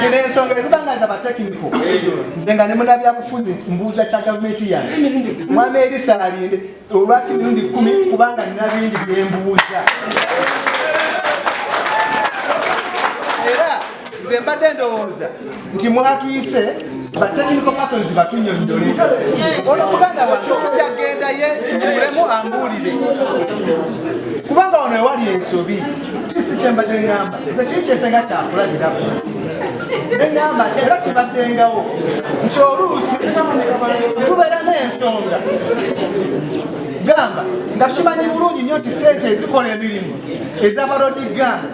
zino ensonga eziba nga za batekiniko nze nga ne munabyabufuzi mbuuza kya gavumenti yange mwami erisa alinde olwaki mirundi kumi kubanga nina bingi byembuuza era nze mbadde ndowooza nti mwatuyise batekiniko pasons batunyonyole ono muganda wange tujja gendaye tumulemu ambuulire kubanga wano ewali ensobi kisi kyembadde ngamba nze kiri kyesenga kyakulabirako nengamba nti era kibaddengawo nti oluusi tubeera n'ensonga gamba nga kimanyi bulungi nnyo nti sente ezikola emirimu ezabalodi gamba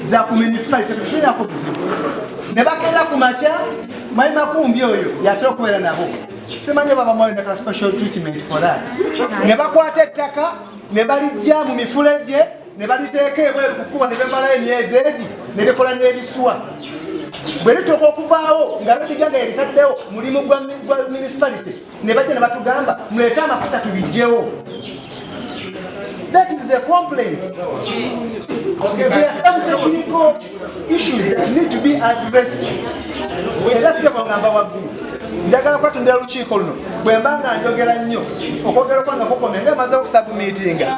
za ku minisipali tetutulina ku buzibu ne bagenda ku makya mwali makumbi oyo yatera okubeera nabo simanyi baba mwali naka special treatment for that ne bakwata ettaka ne balijja mu mifulejje ne baliteeka ebweru ku kkubo ne bemalayo emyezi egi ne likola n'ebisuwa bwe lituuka okuvaawo nga lodiga nga yebitaddewo mulimu gwa municipality ne bajja ne batugamba muleete amafuta tubijjewo That is the complaint. Okay, there are some technical issues that need to be addressed. Era si bwagamba waggulu. Njagala kwatundira lukiiko luno bwe mba nga njogera nnyo okwogera kwange kukomye nga emaze okusabumiitinga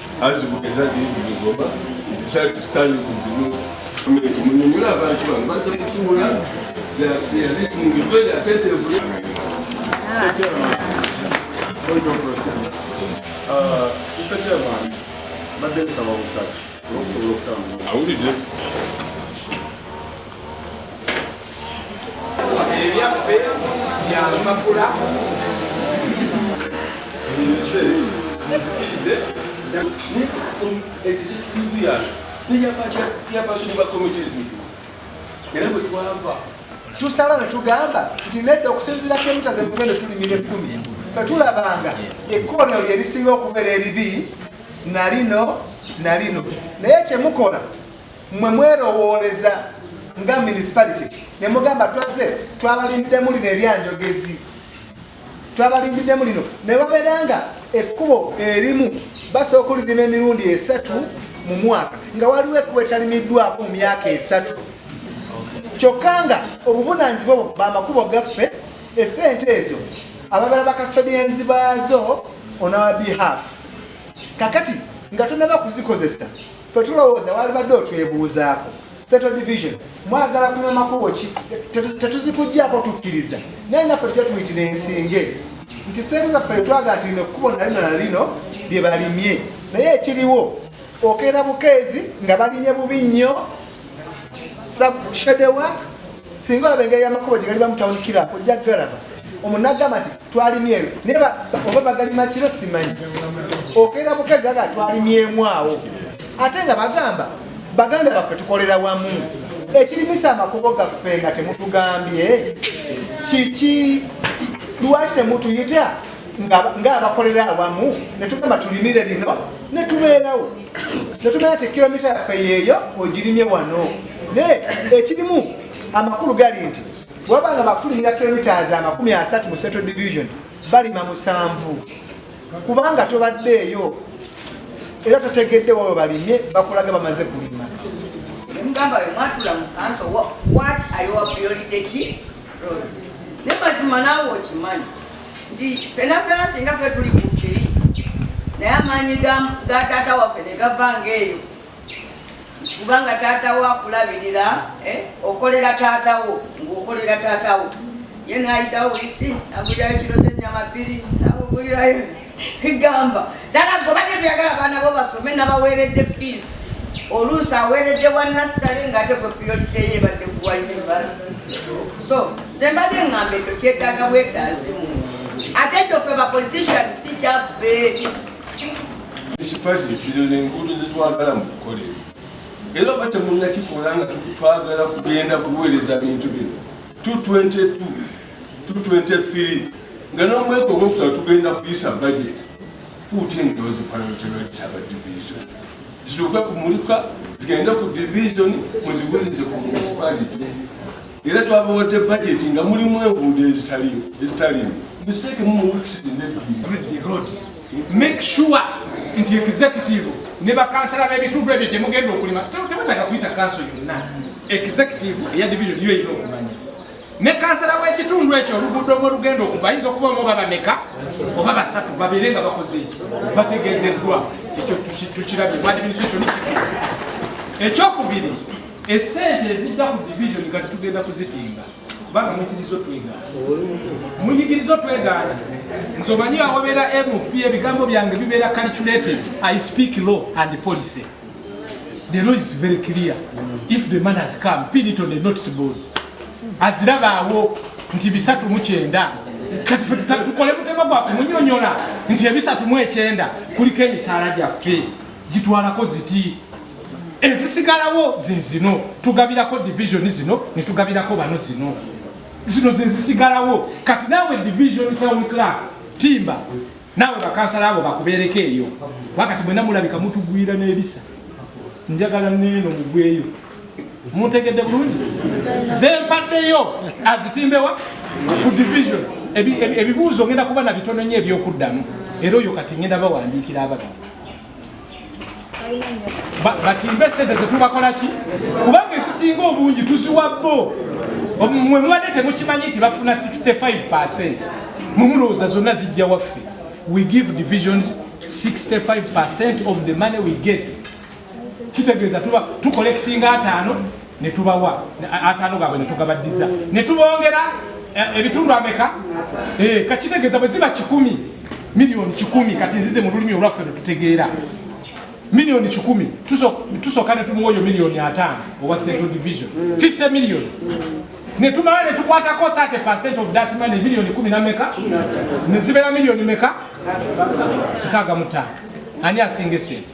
awulidde ebyaffe bya makula tusala ne tugamba nti nedda okusinziira kemita zemugendo tulimira ekkumi fetulabanga ekkoonero lye lisinga okubeera eribi nalino nalino naye kyemukola Mwe mwerowooleza nga municipality ne mugamba twazze twabalindiddemu lino eryanjogezi twabalindiddemu lino ne babeera nga ekkubo erimu basooka olirima emirundi esatu mu mwaka nga waliwo ekkubo etalimiddwako mu myaka esatu kyokka nga obuvunaanyizibwa obwo bamakubo gaffe esente ezo ababala bakastodians baazo on our behalf kakati nga tonaba kuzikozesa fe tulowooza walibadde otwebuuzaako central division mwagala kunywa makubo ki tetuzikujjaako tukkiriza naye naffe tujja tuyitira ensinge nti sente zaffe twagala tirina ekkubo nalino nalino lye balimye naye ekiriwo okeera bukeezi nga balimye bubi nnyo sabushedewa singa olaba engeri yamakubo gye galiba mutawunikira ojja galaba omu nagamba nti twalimyeyo naye oba bagalima kiro simanyi okeera bukazi aga twalimyemu awo ate nga bagamba baganda baffe tukolera wamu ekirimisa amakubo gaffe nga temutugambye kiki lwaki temutuyita ng'abakolera awamu ne tugamba tulimire lino ne tubeerawo tetumanya ti kilomita yaffe yeeyo ogirimye wano naye ekirimu amakulu gali nti waba nga bakulimira kilomitas amakumi asatu mu central division balima musanvu kubanga tobaddeeyo era totegedde wawe balimye bakulaga bamaze kulima mugamba we mwatula mu kanso wat ayowa priority ki roads ne mazima naawe okimanyi nti fena fena singa fe tuli ku ffiri naye amaanyi ga taata waffe ne gava ngaeyo kubanga taata wo akulabirira eh, okolera taata wo ngaokolera taata wo ye nayitawo isi agulirayo kiro zenyama bbiri nagugulirayo egamba dala gobadde toyagala abaana bo basome nabaweeredde fiisi oluusi aweeredde wa nassale ngaate gwe priorite ye ebadde kuwa university so nze mbadde ŋŋamba ekyo kyetaaga bwetaazi ate ekyo ffe ba politician si kyaffe ekipati ebbiro n'enguudo zetwagala mu kukolera era oba temunnakikola nga twagala kugenda kuweereza bintu bino 222 223 nga n'omweka ogwokutala tugenda kuyisa budget puuti endoozi paloterotisaba division zituuke kumulika zigende ku division muziweereze ku municipality era twabawadde bajeti nga mulimu enguudo ezitalimu ezitalimu muziteekemu mu wiks nebbiri roads make sure nti executive ne bakansala b'ebitundu ebyo gye mugenda okulima tebataka kuyita kanso yonna executive eya division yo erina okumanya ne kansala w'ekitundu ekyo oluguudo mwe lugenda okuva ayinza okuba omu oba bameka oba basatu babeere nga bakoze ekyo bategeezeddwa ekyo tukirabye mu administration ekyokubiri Esente ezijja ku division kati tugenda kuzitimba kubanga muyigiriza otwegaana muyigiriza otwegaana nze omanyi awabeera mp ebigambo byange bibeera calculated i speak law and policy the law is very clear if the man has come pin it on the notice board azirabaawo nti bisatu mu kyenda kati fe tukole mutema gwa kumunyonyola nti ebisatu mu ekyenda kuliko emisaala gyaffe gitwalako ziti ezisigalawo zezino tugabirako division zino netugabirako bano zino zino zezisigalawo kati nawe division town club timba nawe bakansala abo bakubereko eyo wakati mwena mulabika mutugwira nebisa njagala neno mugweyo muntegedde bulungi zempaddeyo azitimbewa ku division ebibuuzo ngenda kuba na bitono nyo ebyokuddamu era oyo kati ngenda bawandiikira ababiri batimbe sente zetubakolaki kubanga ezisinga obungi tuziwa bo mwe mubadde temukimanyi nti bafuna 65 mumulowooza zonna zijja waffe we give divisions 65 of the money we get kitegeeza tuba tucollectinga ataano ne tubawa ataano gaabwe ne tugabaddiza ne tubongera eh, ebitundu ameka eh, kakitegeeza bwe ziba kikumi miliyoni kikumi kati nzize mu lulimi olwaffe lwe tutegeera milioni kikumi tusooka ne tumuwa oyo milioni ataano owa central division 50 milioni ne tumala ne tukwatako 30 percent of that money milioni kumi na meka ne zibeera milioni meka nkaaga mutaano ani asinga esente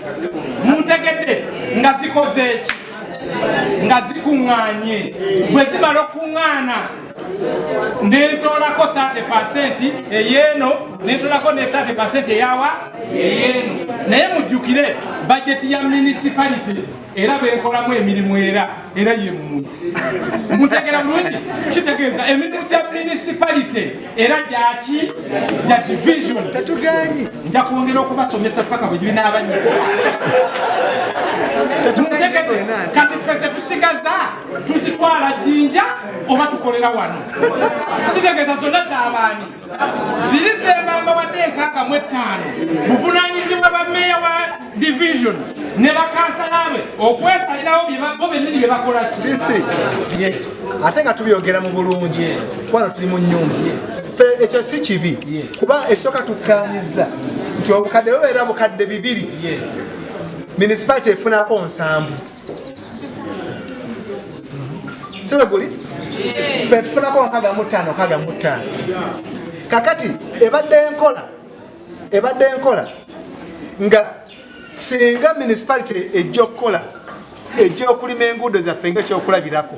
muntegedde nga zikoze eki nga zikuŋŋaanye bwe zimala okuŋŋaana nentoolako 30 pasenti eyeeno nentoolako ne 30 pasenti eyawa eyeeno naye mujjukire bajeti ya municipality era benkolamu emirimu era era ye muntu mutegera bulungi kitegeeza emirimu gya municipality era gyaki gya division nja kwongera okubasomesa paka bwe gibinaabanyika kati fe zetusigaza tuzitwala jinja oba tukolera wano sitegeza zonna zabaani ziri zembamba wadde enkaaga mu ettaano buvunanyizibwa bameeya wa division ne bakansala be okwesalirawo bo bennyini bye bakola ki ate nga tubyogera mu bulungi kubana tuli mu nyumba ekyo si kibi kuba esooka tukkanyiza nti obukadde bubeera bukadde bibiri munisipality efunako nsanvu sibe guli fe tufunako nkaga mu ttaano kaga mu ttaano kakati ebadde enkola ebadde enkola nga singa municipality ejja okukola ejja okulima enguudo zaffe ngaekyokulabirako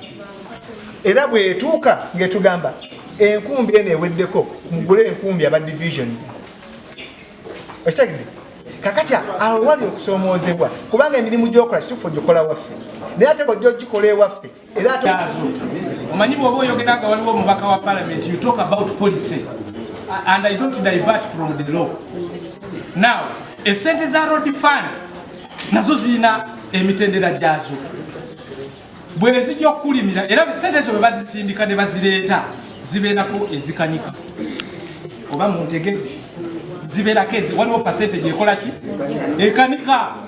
era bwetuuka ngetugamba enkumbi eno eweddeko mugule enkumbi aba division okitegede kakati awo wali okusoomoozebwa kubanga emirimu gyokola kitufu ogikola waffe naye ate bwojja ogikola ewaffe omanyi bwoba oyogera nga waliwo omubaka wa parliament you talk about policy and i don't divert from the law now esente za road fund nazo zirina emitendera gyazo bwezijja okukulimira era sente ezo bwebazisindika ne bazireeta zibeerako ezikanika oba muntegedde zibeerako waliwo pasente gyekolaki ekanika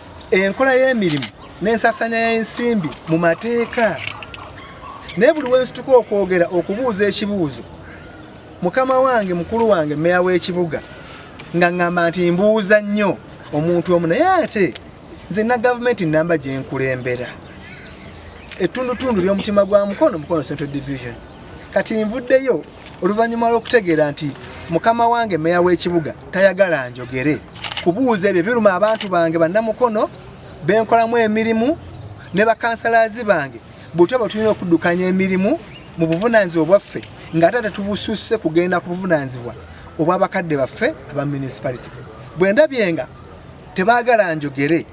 enkola y'emirimu n'ensasanya y'ensimbi mu mateeka naye buli wensituka okwogera okubuuza ekibuuzo mukama wange mukulu wange meya w'ekibuga nga ŋŋamba nti mbuuza nnyo omuntu omu naye ate nze na gavumenti namba gye nkulembera ettundutundu ly'omutima gwa mukono mukono central division kati nvuddeyo oluvannyuma lw'okutegeera nti mukama wange meya w'ekibuga tayagala njogere kubuuza ebyo biruma abantu bange bannamukono benkolamu emirimu ne bakansalazi bange butya bwe tulina okuddukanya emirimu mu buvunaanyizibwa bwaffe nga ate tetubususse kugenda ku buvunaanyizibwa obw'abakadde baffe aba municipality bwe ndabye nga tebaagala njogere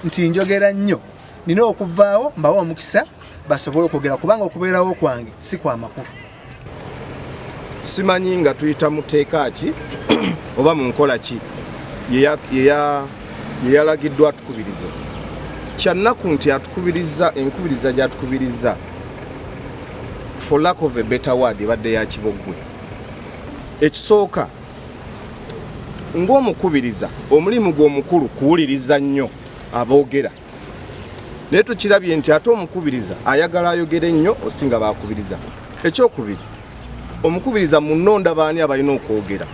nti njogera nnyo nina okuvaawo mbawo omukisa basobole okwogera kubanga okubeerawo kwange si kwa makulu simanyi nga tuyita mu tteeka ki oba mu nkola ki yeyalagiddwa atukubiriza kyannaku nti atukubiriza enkubiriza gyatukubiriza for lack of a better word ebadde ya kiboggwe ekisooka ng'omukubiriza omulimu gw'omukulu kuwuliriza nnyo aboogera naye tukirabye nti ate omukubiriza ayagala ayogere nnyo osinga bakubiriza ekyokubiri omukubiriza munonda baani abalina okwogera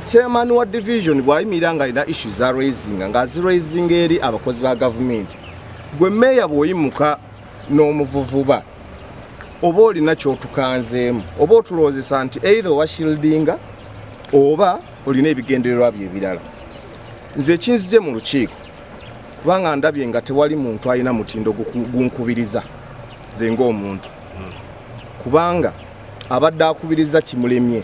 chairman wa division bwayimirira nga alina issu za raising nga aziraising eri abakozi ba gavumenti gwe meeya bwoyimuka n'omuvuvuba oba olina kyotukanzeemu oba otulowoozesa nti eitha owashildinga oba olina ebigendererwa bye ebirala nze ekinzije mu lukiiko kubanga ndabye nga tewali muntu alina mutindo gunkubiriza ze ng'omuntu kubanga abadde akubiriza kimulemye